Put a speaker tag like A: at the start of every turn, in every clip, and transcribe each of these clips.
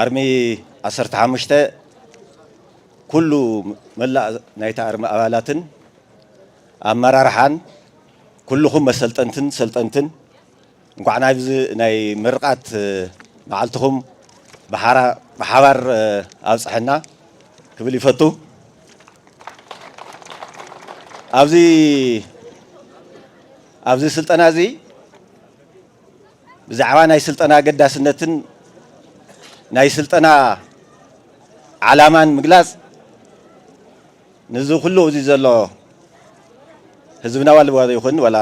A: ኣርሚ ዓሰርተ ሓሙሽተ ኩሉ መላእ ናይቲ ኣርሚ ኣባላትን ኣመራርሓን ኩልኹም መሰልጠንትን ሰልጠንትን እንኳዕ ናብዚ ናይ ምርቓት መዓልትኹም ብሓባር ኣብፀሐና ክብል ይፈቱ። ኣብዚ ኣብዚ ስልጠና እዚ ብዛዕባ ናይ ስልጠና ኣገዳስነትን ናይ ስልጠና ዓላማን ምግላፅ ንዚ ኩሉ እዚ ዘሎ ህዝብና ዋላ ይኹን ዋላ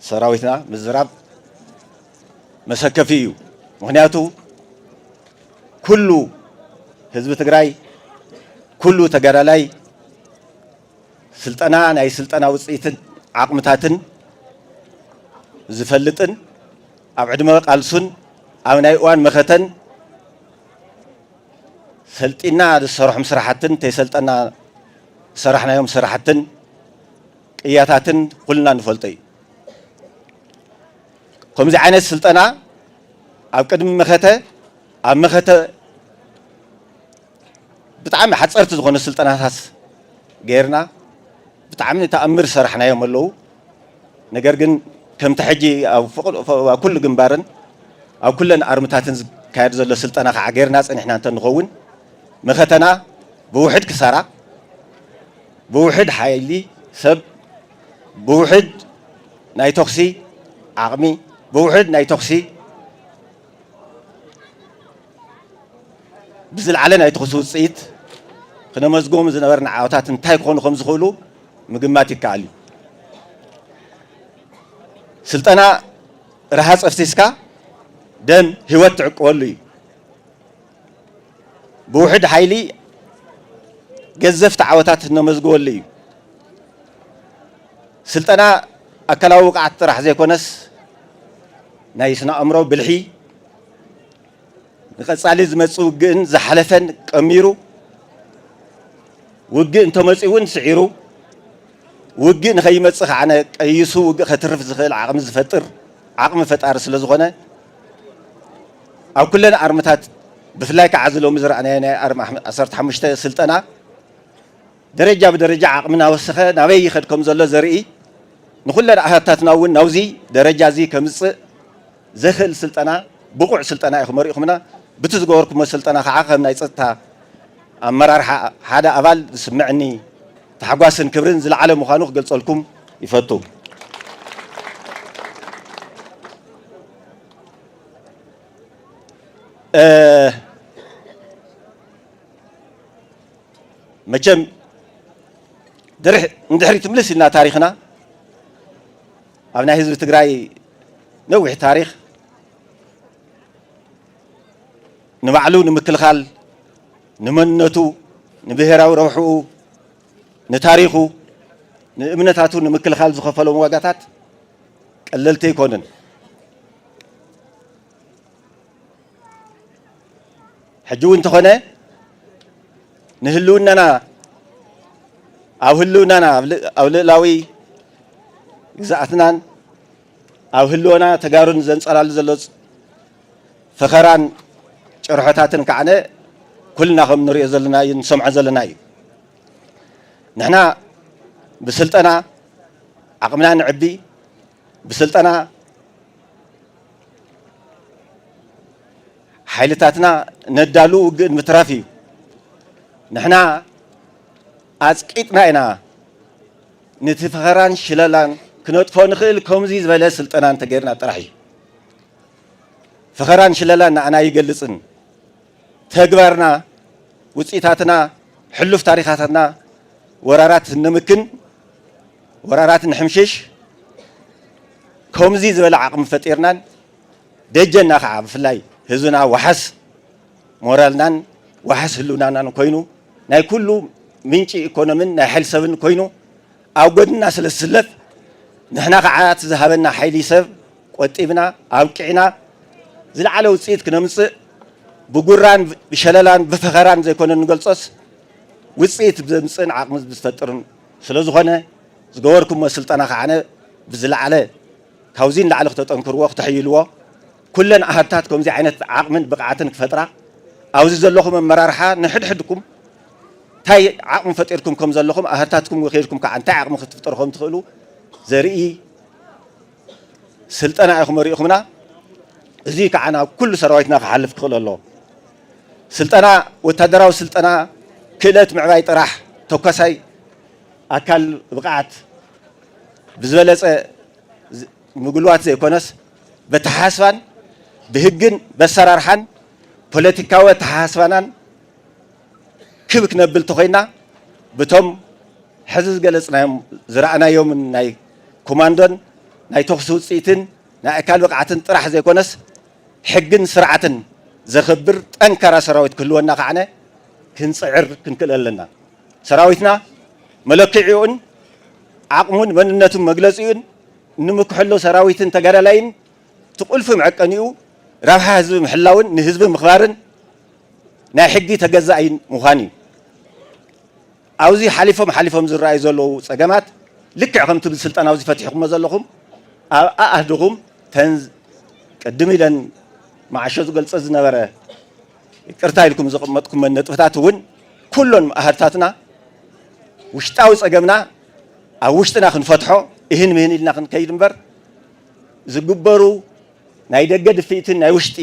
A: ሰራዊትና ምዝራብ መሰከፊ እዩ። ምክንያቱ ኩሉ ህዝቢ ትግራይ ኩሉ ተጋዳላይ ስልጠና ናይ ስልጠና ውፅኢትን ዓቕምታትን ዝፈልጥን ኣብ ዕድመ ቃልሱን ኣብ ናይ እዋን መኸተን ሰልጢና ዝሰረሖም ስራሕትን ተይሰልጠና ዝሰራሕናዮም ስራሕትን ቅያታትን ኩልና ንፈልጦ እዩ። ከምዚ ዓይነት ስልጠና ኣብ ቅድሚ መኸተ ኣብ መኸተ ብጣዕሚ ሓፀርቲ ዝኾኑ ስልጠናታት ገይርና ብጣዕሚ ተኣምር ዝሰራሕናዮም ኣለዉ። ነገር ግን ከምቲ ሕጂ ኣብ ኩሉ ግንባርን ኣብ ኩለን ኣርምታትን ዝካየድ ዘሎ ስልጠና ከዓገርና ጸኒሕና እንተንኸውን መኸተና ብውሕድ ክሳራ ብውሕድ ሓይሊ ሰብ ብውሕድ ናይ ተኹሲ ዓቕሚ ብውሕድ ናይ ተኹሲ ብዝለዓለ ናይ ተኹሲ ውፅኢት ክነመዝግቦም ዝነበርና ዓወታት እንታይ ክኾኑ ከም ዝኽእሉ ምግማት ይከኣል እዩ። ስልጠና ረሃፅ ኣፍሲስካ ደም ህይወት ትዕቅበሉ እዩ። ብውሕድ ሓይሊ ገዘፍቲ ዓወታት እነመዝግበሉ እዩ። ስልጠና ኣካላዊ ብቕዓት ጥራሕ ዘይኮነስ ናይ ስነ ኣእምሮ ብልሒ ንቀፃሊ ዝመፅእ ውግእን ዝሓለፈን ቀሚሩ ውግእ እንተመፅኡ እውን ስዒሩ ውግእ ንከይመፅእ ከዓነ ቀይሱ ውግእ ከትርፍ ዝኽእል ዓቕሚ ዝፈጥር ዓቕሚ ፈጣሪ ስለ ዝኾነ ኣብ ኩለን ኣርምታት ብፍላይ ከዓ እዚ ሎሚ ዝረኣናዮ ናይ ኣርሚ ዓሰርተ ሓሙሽተ ስልጠና ደረጃ ብደረጃ ዓቕሚ እናወሰኸ ናበይ ይኸድ ከም ዘሎ ዘርኢ ንኩለን ኣሃታትና እውን ናብዚ ደረጃ እዚ ከምፅእ ዘኽእል ስልጠና ብቑዕ ስልጠና ኢኹም ኣሪእኹምና። ብቲ ዝገበርኩሞ ስልጠና ካዓ ከም ናይ ፀጥታ ኣመራርሓ ሓደ ኣባል ዝስመዐኒ ታሕጓስን ክብርን ዝለዓለ ምዃኑ ክገልፀልኩም ይፈቱ። መቸም ንድሕሪት ምልስ ኢልና ታሪኽና ኣብ ናይ ህዝቢ ትግራይ ነዊሕ ታሪኽ ንባዕሉ ንምክልኻል ንመንነቱ ንብሄራዊ ረብሕኡ ንታሪኹ ንእምነታቱ ንምክልኻል ዝኸፈሎም ዋጋታት ቀለልቲ ኣይኮኑን። ሕጂ እውን እንተኾነ ንህልውናና ኣብ ህልውናና ኣብ ልእላዊ ግዝኣትናን ኣብ ህልወና ተጋሩን ዘንጸላሉ ዘሎ ፈኸራን ጭርሖታትን ከዓነ ኩልና ከም ንሪኦ ዘለና እዩ ንሰምዖ ዘለና እዩ ንሕና ብስልጠና ዓቕምና ንዕቢ ብስልጠና ሓይልታትና ነዳሉ ውግእ ንምትራፍ እዩ። ንሕና ኣጽቂጥና ኢና ነቲ ፈኸራን ሽለላን ክነጥፎ ንኽእል ከምዚ ዝበለ ስልጠና እንተገይርና ጥራሕ እዩ። ፈኸራን ሽለላን ንዓና ኣይገልጽን። ተግባርና፣ ውፅኢታትና፣ ሕሉፍ ታሪኻታትና ወራራት ንምክን፣ ወራራት ንሕምሽሽ ከምዙይ ዝበለ ዓቕሚ ፈጢርናን ደጀና ከዓ ብፍላይ ህዝብና ዋሕስ ሞራልናን ዋሕስ ህልውናናን ኮይኑ ናይ ኩሉ ምንጪ ኢኮኖሚን ናይ ሓይሊ ሰብን ኮይኑ ኣብ ጎድንና ስለ ዝስለፍ ንሕና ከዓ እቲ ዝሃበና ሓይሊ ሰብ ቆጢብና ኣብቂዕና ዝለዓለ ውፅኢት ክነምፅእ ብጉራን ብሸለላን ብፈኸራን ዘይኮነ እንገልፆስ ውፅኢት ዘምፅእን ዓቕሚ ዝፈጥርን ስለዝኾነ ዝገበርኩሞ ስልጠና ከዓነ ብዝለዓለ ካብዚ ንላዕሊ ክተጠንክርዎ ክተሕይልዎ ኩለን ኣሃድታት ከምዚ ዓይነት ዓቕምን ብቕዓትን ክፈጥራ ኣብዚ ዘለኹም ኣመራርሓ ንሕድሕድኩም እንታይ ዓቕሚ ፈጢርኩም ከም ዘለኹም ኣህርታትኩም ወኪልኩም ከዓ እንታይ ዓቕሚ ክትፍጠሩ ከም ትኽእሉ ዘርኢ ስልጠና ኢኹም ኣሪእኹምና እዙይ ከዓ ናብ ኩሉ ሰራዊትና ክሓልፍ ክኽእል ኣለዎ። ስልጠና ወታደራዊ ስልጠና ክእለት ምዕባይ ጥራሕ ተኳሳይ ኣካል ብቕዓት ብዝበለፀ ምጉልዋት ዘይኮነስ በተሓሳስባን ብህግን በሰራርሓን ፖለቲካዊ ኣተሓሳስባናን ክብ ክነብል ተኾይና ብቶም ሕዚ ዝገለጽናዮም ዝረኣናዮምን ናይ ኮማንዶን ናይ ተኹሲ ውጽኢትን ናይ ኣካል ብቕዓትን ጥራሕ ዘይኮነስ ሕግን ስርዓትን ዘኽብር ጠንካራ ሰራዊት ክህልወና ከዓነ ክንጽዕር ክንክእል ኣለና። ሰራዊትና መለክዒኡን ዓቕሙን መንነቱን መግለጺኡን እንምክሐሉ ሰራዊትን ተጋዳላይን እቲ ቁልፊ መዐቀኒኡ ረብሓ ህዝቢ ምሕላውን ንህዝቢ ምኽባርን ናይ ሕጊ ተገዛኢ ምዃን እዩ። ኣብ'ዚ ሓሊፎም ሓሊፎም ዝረኣዩ ዘለዉ ጸገማት ልክዕ ከም'ቲ ኣብዚ ስልጠና'ዚ ፈቲሕኩሞ ዘለኹም ኣብ ኣኣህድኹም ተን ቅድም ኢለን መዓሾ ዝገልጸ ዝነበረ ይቅርታ ኢልኩም ዘቐመጥኩመን ነጥብታት እውን ኩሎን ኣሃድታትና ውሽጣዊ ጸገምና ኣብ ውሽጥና ክንፈትሖ እህን ምህን ኢልና ክንከይድ እምበር ዝግበሩ ናይ ደገ ድፍኢትን ናይ ውሽጢ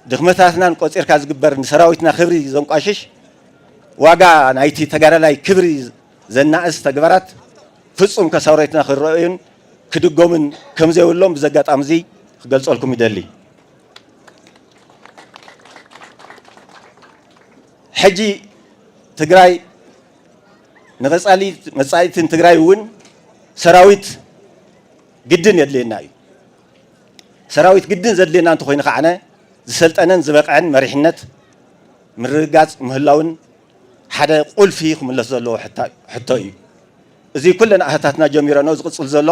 A: ድኽመታትናን ቆጺርካ ዝግበር ንሰራዊትና ክብሪ ዘንቋሽሽ ዋጋ ናይቲ ተጋዳላይ ክብሪ ዘናእስ ተግባራት ፍጹም ከሳውረትና ክረኣዩን ክድገሙን ከምዘይብሎም ብዚ ኣጋጣሚ እዚ ክገልጸልኩም ይደሊ። ሕጂ ትግራይ ንቐጻሊ መጻኢትን ትግራይ እውን ሰራዊት ግድን የድልየና እዩ። ሰራዊት ግድን ዘድልየና እንተኾይኑ ከዓነ ዝሰልጠነን ዝበቕዐን መሪሕነት ምርግጋፅ ምህላውን ሓደ ቁልፊ ክምለስ ዘለዎ ሕቶ እዩ። እዚ ኩለን ኣህታትና ጀሚረንኦ ዝቕፅል ዘሎ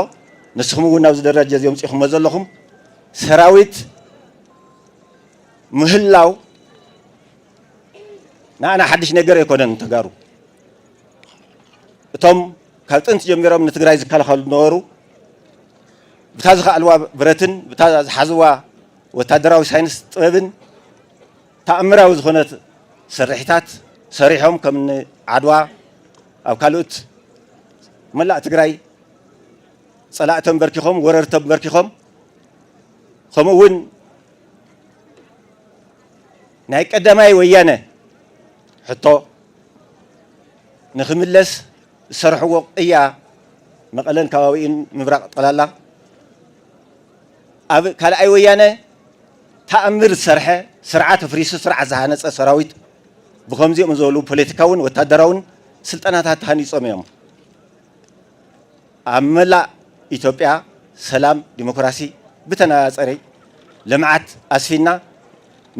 A: ንስኹም እውን ናብዚ ደረጃ እዚ ኣምፂኹሞ ዘለኹም ሰራዊት ምህላው ንኣና ሓድሽ ነገር ኣይኮነን ተጋሩ እቶም ካብ ጥንቲ ጀሚሮም ንትግራይ ዝከላኸሉ ነበሩ ብታ ዝኸኣልዋ ብረትን ብታ ዝሓዝዋ ወታደራዊ ሳይንስ ጥበብን ተኣምራዊ ዝኾነት ስርሒታት ሰሪሖም ከምኒ ዓድዋ ኣብ ካልኦት መላእ ትግራይ ፀላእ ተንበርኪኾም ወረር ተንበርኪኾም ከምኡ እውን ናይ ቀዳማይ ወያነ ሕቶ ንክምለስ ዝሰርሕዎ ቅያ መቐለን ከባቢኡን ምብራቕ ጠቕላላ ኣብ ካልኣይ ወያነ ተኣምር ዝሰርሐ ስርዓት ኣፍሪሱ ስርዓት ዝሃነፀ ሰራዊት ብከምዚኦም ዝበሉ ፖለቲካውን ወታደራውን ስልጠናታት ተሃኒፆም እዮም ኣብ መላእ ኢትዮጵያ ሰላም ዲሞክራሲ ብተነፃፀሪ ልምዓት ኣስፊና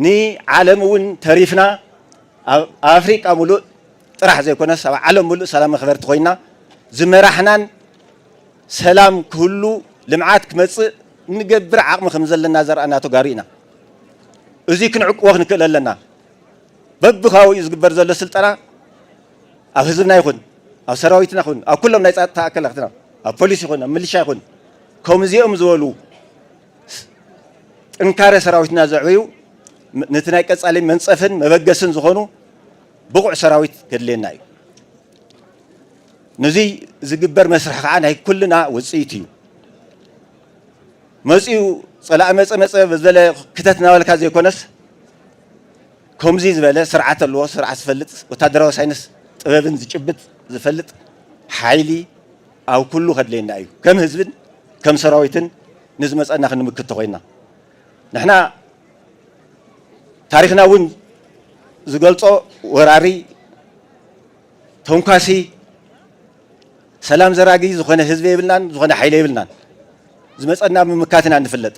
A: ንዓለም እውን ተሪፍና ኣብ ኣፍሪቃ ሙሉእ ጥራሕ ዘይኮነስ ኣብ ዓለም ምሉእ ሰላም መኽበርቲ ኮይና ዝመራሕናን ሰላም ክህሉ ልምዓት ክመፅእ እንገብር ዓቕሚ ከምዘለና ዘርኣና ተጋሩ ኢና። እዙይ ክንዕቅቦ ክንክእል ኣለና። በብካባቢኡ ዝግበር ዘሎ ስልጠና ኣብ ህዝብና ይኹን ኣብ ሰራዊትና ይኹን ኣብ ኩሎም ናይ ፀጥታ ኣካላትና ኣብ ፖሊስ ይኹን ኣብ ምልሻ ይኹን ከምዚኦም ዝበሉ ጥንካረ ሰራዊትና ዘዕበዩ ነቲ ናይ ቀፃሊ መንፀፍን መበገስን ዝኾኑ ብቑዕ ሰራዊት ከድልየና እዩ። ነዚ ዝግበር መስርሕ ከዓ ናይ ኩልና ውፅኢት እዩ። መፂኡ ፀላኢ መፀ መፀ በዘለ ክተት እናበልካ ዘይኮነስ ከምዚ ዝበለ ስርዓት ኣለዎ፣ ስርዓት ዝፈልጥ ወታደራዊ ሳይንስ ጥበብን ዝጭብጥ ዝፈልጥ ሓይሊ ኣብ ኩሉ ከድልየና እዩ። ከም ህዝብን ከም ሰራዊትን ንዝመፀና ክንምክት ተኾይንና ንሕና ታሪኽና እውን ዝገልፆ ወራሪ፣ ተንኳሲ፣ ሰላም ዘራጊ ዝኾነ ህዝቢ የብልናን፣ ዝኾነ ሓይሊ የብልናን። ዝመፀና ምምካት ኢና እንፍለጥ።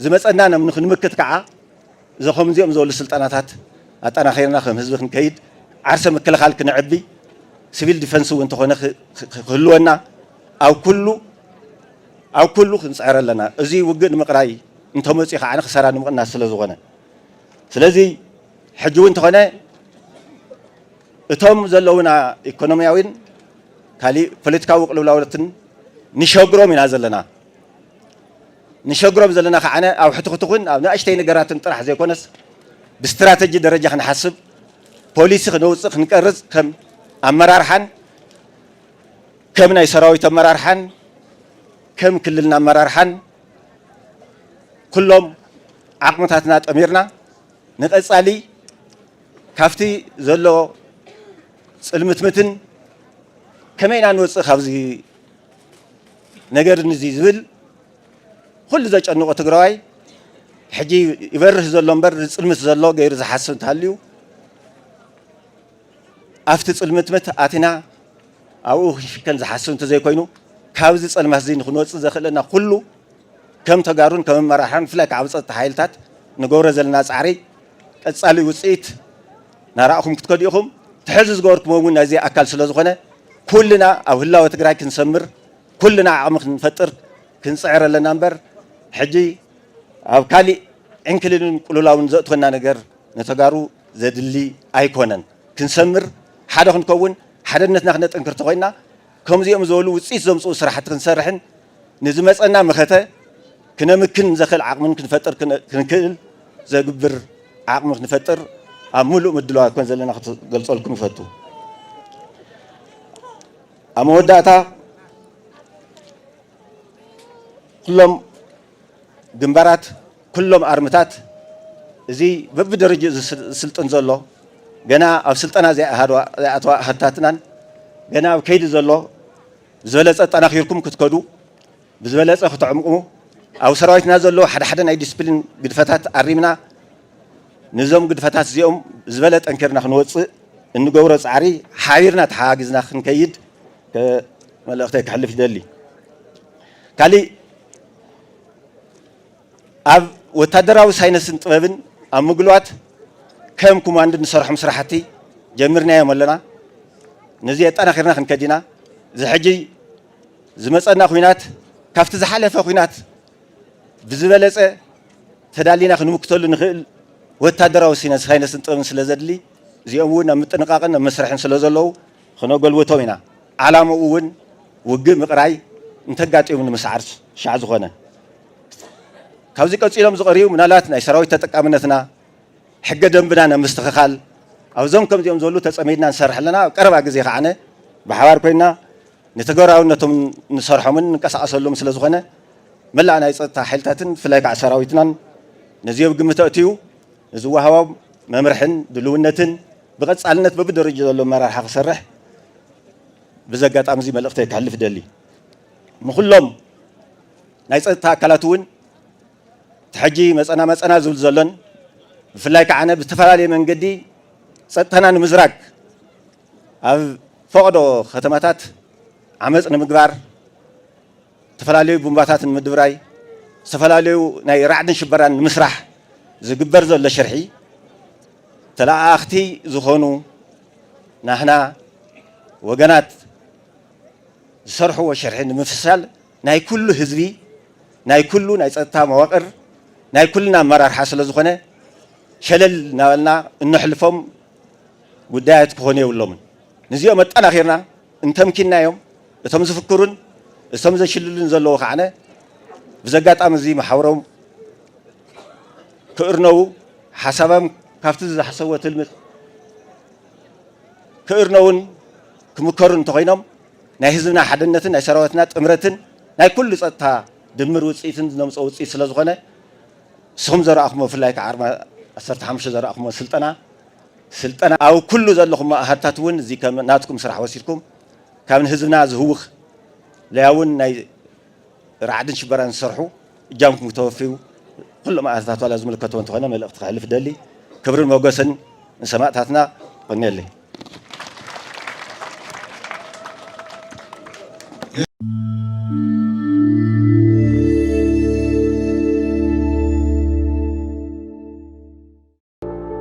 A: ዝመፀና ንክንምክት ከዓ እዞ ከምዚኦም ዝበሉ ስልጠናታት ኣጠናኺርና ከም ህዝቢ ክንከይድ ዓርሰ ምክልኻል ክነዕቢ ሲቪል ዲፈንስ እውን ተኾነ ክህልወና ኣብ ኩሉ ኣብ ኩሉ ክንጽዕር ኣለና እዚ ውግእ ንምቅራይ እንተመጽዩ ከኣ ክሳራ ንምቅናስ ስለ ዝኮነ ስለዚ ሕጂ ውን ተኮነ እቶም ዘለውና ኢኮኖሚያዊን ካሊእ ፖለቲካዊ ቅልውላውትን ንሸግሮም ኢና ዘለና ንሸግሮም ዘለና ከዓነ ኣብ ሕትኹትኹን ኣብ ንእሽተይ ነገራትን ጥራሕ ዘይኮነስ ብስትራተጂ ደረጃ ክንሓስብ ፖሊሲ ክነውጽእ ክንቀርጽ ከም ኣመራርሓን ከም ናይ ሰራዊት ኣመራርሓን ከም ክልልና ኣመራርሓን ኩሎም ዓቕምታትና ኣጠሚርና ንቐፃሊ ካብቲ ዘሎ ፅልምትምትን ከመይ ኢና ንወፅእ ካብዚ ነገር እዚ ዝብል ኩሉ ዘጨንቆ ትግራዋይ ሕጂ ይበርህ ዘሎ እምበር ዝፅልምት ዘሎ ገይሩ ዝሓስብ እንተሃልዩ ኣብቲ ጽልምትምት ኣቲና ኣብኡ ክሽከን ዝሓስብ እንተዘይኮይኑ ካብዚ ጸልማትዚ ንክንወጽእ ዘኽእለና ኩሉ ከም ተጋሩን ከም ኣመራርሓን ብፍላይ ከዓ ኣብ ጸጥታ ሓይልታት ንገብሮ ዘለና ጻዕሪ ቀጻሊ ውጽኢት ናራእኹም ክትከዱ ኢኹም። እቲ ሕዚ ዝገበርኩሞ እውን ናይዚ ኣካል ስለዝኾነ ኩልና ኣብ ህላወ ትግራይ ክንሰምር ኩልና ዓቕሚ ክንፈጥር ክንጽዕር ኣለና እምበር ሕጂ ኣብ ካሊእ ዕንክሊልን ቁሉላውን ዘእትወና ነገር ንተጋሩ ዘድሊ ኣይኮነን ክንሰምር ሓደ ክንከውን ሓደነትና ክነጥንክር ተኾይንና ከምዚኦም ዝበሉ ውፅኢት ዘምፅኡ ስራሕቲ ክንሰርሕን ንዝመፀና መኸተ ክነምክን ዘኽእል ዓቕምን ክንፈጥር ክንክእል ዘግብር ዓቕሚ ክንፈጥር ኣብ ምሉእ ምድለዋት ኮን ዘለና ክትገልፀልኩም ይፈቱ ኣብ መወዳእታ ኩሎም ግንባራት ኩሎም ኣርምታት እዚ በብደረጅኡ ዝስልጥን ዘሎ ገና ኣብ ስልጠና ዘይኣተዋ ኣሃድታትናን ገና ኣብ ከይዲ ዘሎ ብዝበለፀ ኣጠናኺርኩም ክትከዱ ብዝበለፀ ክትዕምቑ ኣብ ሰራዊትና ዘለዉ ሓደ ሓደ ናይ ዲስፕሊን ግድፈታት ኣሪምና ንዞም ግድፈታት እዚኦም ዝበለ ጠንኪርና ክንወፅእ እንገብሮ ፃዕሪ ሓቢርና ተሓጋጊዝና ክንከይድ መልእኽተይ ከሕልፍ ይደሊ ካሊእ ኣብ ወታደራዊ ሳይነስን ጥበብን ኣብ ምግሏት ከም ኩማንድ ንሰርሖም ስራሕቲ ጀሚርናዮም ኣለና ነዚ ኣጠናኺርና ክንከድ ኢና እዚ ሕጂ ዝመፀና ኩናት ካብቲ ዝሓለፈ ኩናት ብዝበለፀ ተዳሊና ክንምክተሉ ንኽእል ወታደራዊ ሳይነስን ጥበብን ስለ ዘድሊ እዚኦም እውን ኣብ ምጥንቃቕን ኣብ መስርሕን ስለ ዘለዉ ክነጎልብቶ ኢና ዓላምኡ ውን ውግእ ምቅራይ እንተጋጢሙ ንምስዓር ሻዕ ዝኾነ ካብዚ ቀጺሎም ዝቀርዩ ምናልባት ናይ ሰራዊት ተጠቃምነትና ሕገ ደንብና ናብ ምስትኽኻል ኣብዞም ከምዚኦም ዘሉ ተጸሚድና ንሰርሕ ኣለና ኣብ ቀረባ ግዜ ከዓነ ብሓባር ኮይና ንተገራውነቶም ንሰርሖምን ንንቀሳቀሰሉም ስለ ዝኾነ መላእ ናይ ጸጥታ ሓይልታትን ብፍላይ ከዓ ሰራዊትናን ነዚዮ ግምት ኣእትዩ ንዝወሃቦም መምርሕን ድልውነትን ብቐፃልነት በብደረጅኡ ዘሎ ኣመራርሓ ክሰርሕ ብዚ ኣጋጣሚ እዚ መልእኽተይ ከሕልፍ እደሊ። ንኹሎም ናይ ፀጥታ ኣካላት እውን እቲ ሕጂ መፀና መፀና ዝብል ዘሎን ብፍላይ ከዓነ ብዝተፈላለየ መንገዲ ፀጥታና ንምዝራግ ኣብ ፈቐዶ ከተማታት ዓመፅ ንምግባር ዝተፈላለዩ ቡምባታት ንምድብራይ ዝተፈላለዩ ናይ ራዕድን ሽበራን ንምስራሕ ዝግበር ዘሎ ሽርሒ ተለኣኣኽቲ ዝኾኑ ናህና ወገናት ዝሰርሕዎ ሽርሒ ንምፍሻል ናይ ኩሉ ህዝቢ ናይ ኩሉ ናይ ፀጥታ መዋቅር ናይ ኩልና ኣመራርሓ ስለ ዝኾነ ሸለል እናበልና እነሕልፎም ጉዳያት ክኾኑ የብሎምን። ንዚኦም ኣጠናኺርና እንተምኪንናዮም እቶም ዝፍክሩን እቶም ዘሽልሉን ዘለዉ ከዓነ ብዘጋጣሚ እዚ መሓውሮም ክእርነዉ ሓሳባም ካብቲ ዝሓሰብዎ ትልሚ ክእርነዉን ክምከሩን እንተኾይኖም ናይ ህዝብና ሓድነትን ናይ ሰራዊትና ጥምረትን ናይ ኩሉ ፀጥታ ድምር ውፅኢትን ዝነምፅኦ ውፅኢት ስለዝኾነ ንስኹም ዘረኣኹሞ ብፍላይ ከዓ ዓርቢ ዓሰርተ ሓሙሽተ ዘረኣኹሞ ስልጠና ስልጠና ኣብ ኩሉ ዘለኹም ኣሃድታት እውን እዚ ከም ናትኩም ስራሕ ወሲድኩም ካብ ንህዝብና ዝህውኽ ለያውን ናይ ራዕድን ሽበራን ዝሰርሑ እጃምኩም ክተወፍዩ ኩሎም ኣሃድታት ዋላ ዝምልከቶ እንተኾነ መልእኽቲ ከሕልፍ እደሊ። ክብርን ሞገስን ንሰማእታትና። እቆንየለይ።